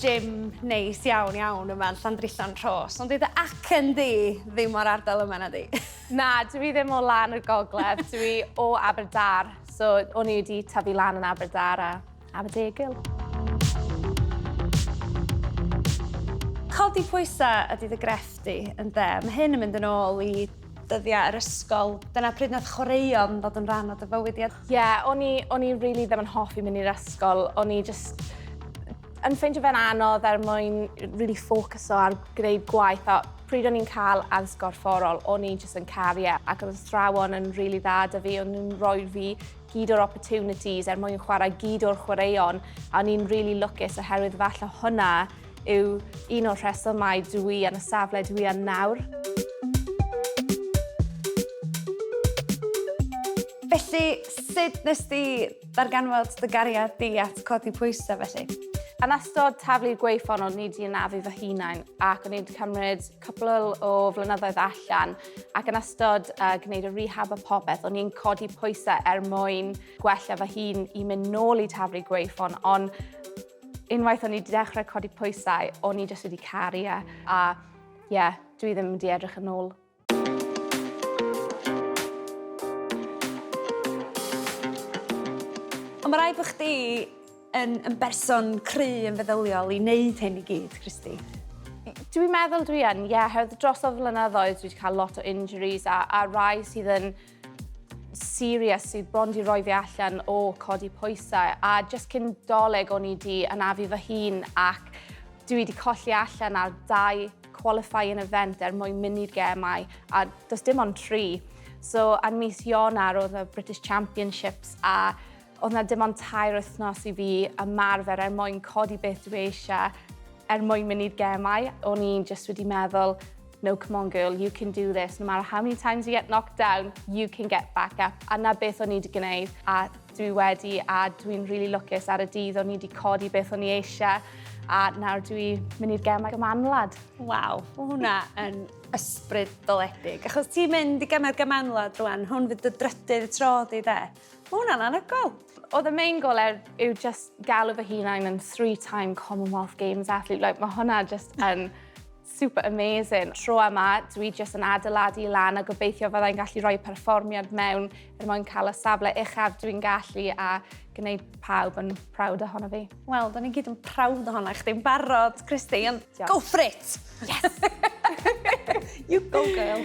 gym neis iawn iawn yma yn Llandrillo'n Rhos, ond dyw dy acen di ddim o'r ardal yma na di? Na, dwi ddim o lan y gogledd, dwi o Aberdâr, so o'n i wedi tyfu lan yn Aberdâr a Aberdegil. Codi pwysau ydy dy grefft di, ynde? Mae hyn yn mynd yn ôl i dyddiau yr ysgol, dyna pryd wnaeth chwaraeon ddod yn rhan o dy fywyd di. Ie, o'n i, o'n i really ddim yn hoffi mynd i'r ysgol. O'n i just yn ffeindio fe'n anodd er mwyn really ffocuso ar gwneud gwaith a pryd o'n i'n cael addysg gorfforol, o'n i jyst yn caru e ac oedd athrawon yn really dda da fi, o'n nhw'n rhoi fi gyd o'r opportunities er mwyn chwarae gyd o'r chwaraeon a o'n i'n really lwcus oherwydd falle hwnna yw un o'r rhesymau dw i yn y safle dw i yn nawr. Felly, sut nes di ddarganfod dy gariad di at codi pwysau felly? Yn ystod taflu'r gweithfon o'n i wedi anafu fy hunain ac o'n i wedi cymryd cwpl o flynyddoedd allan ac yn ystod uh, gwneud y rehab a popeth o'n i'n codi pwysau er mwyn gwella fy hun i mynd nôl i taflu'r gweithfon ond Unwaith o'n i 'di dechrau codi pwysau, o'n i jyst wedi caru e, a ie, yeah, dwi ddim wedi edrych yn ôl. Ond mae rhaid bod chdi yn, yn berson cry yn feddyliol i wneud hyn i gyd, Christy. Dwi'n meddwl dwi yn, ie, yeah, hewyd dros o flynyddoedd dwi wedi cael lot o injuries a, a rai sydd yn serious sydd bron di roi fi allan o codi pwysau a just cyn doleg o'n i di anafu fy hun ac dwi wedi colli allan ar dau qualifying event er mwyn mynd i'r gemau a does dim ond tri. So ar mis Ionar oedd y British Championships a Oedd na dim ond tair wythnos i fi ymarfer er mwyn codi beth dwi eisiau, er mwyn mynd i'r gemau. O'n i'n just wedi meddwl, no come on girl, you can do this, no matter how many times you get knocked down, you can get back up. A na beth o'n i wedi gwneud, a dwi wedi, a dwi'n really lwcus ar y dydd o'n i wedi codi beth o'n i eisiau, a nawr dwi mynd i'r gemau gymanwlad. Waw, o hwnna yn ysbryd doledig. Achos ti'n mynd i gemau'r gymanwlad rwan, hwn fydd dy drydydd tro di de? Mae hwnna'n anhygoel! Oedd y main goal er yw just galw fy hunain yn three-time Commonwealth Games athlete. Like, mae hwnna just yn super amazing. Tro yma, dwi just yn adeiladu lan a gobeithio fyddai'n gallu rhoi perfformiad mewn er mwyn cael y safle uchaf dwi'n gallu a gwneud pawb yn proud ohono fi. Wel, da ni gyd yn prawd ohona chdi yn barod, Christy, ond Diolch. go for it! Yes! you go, girl!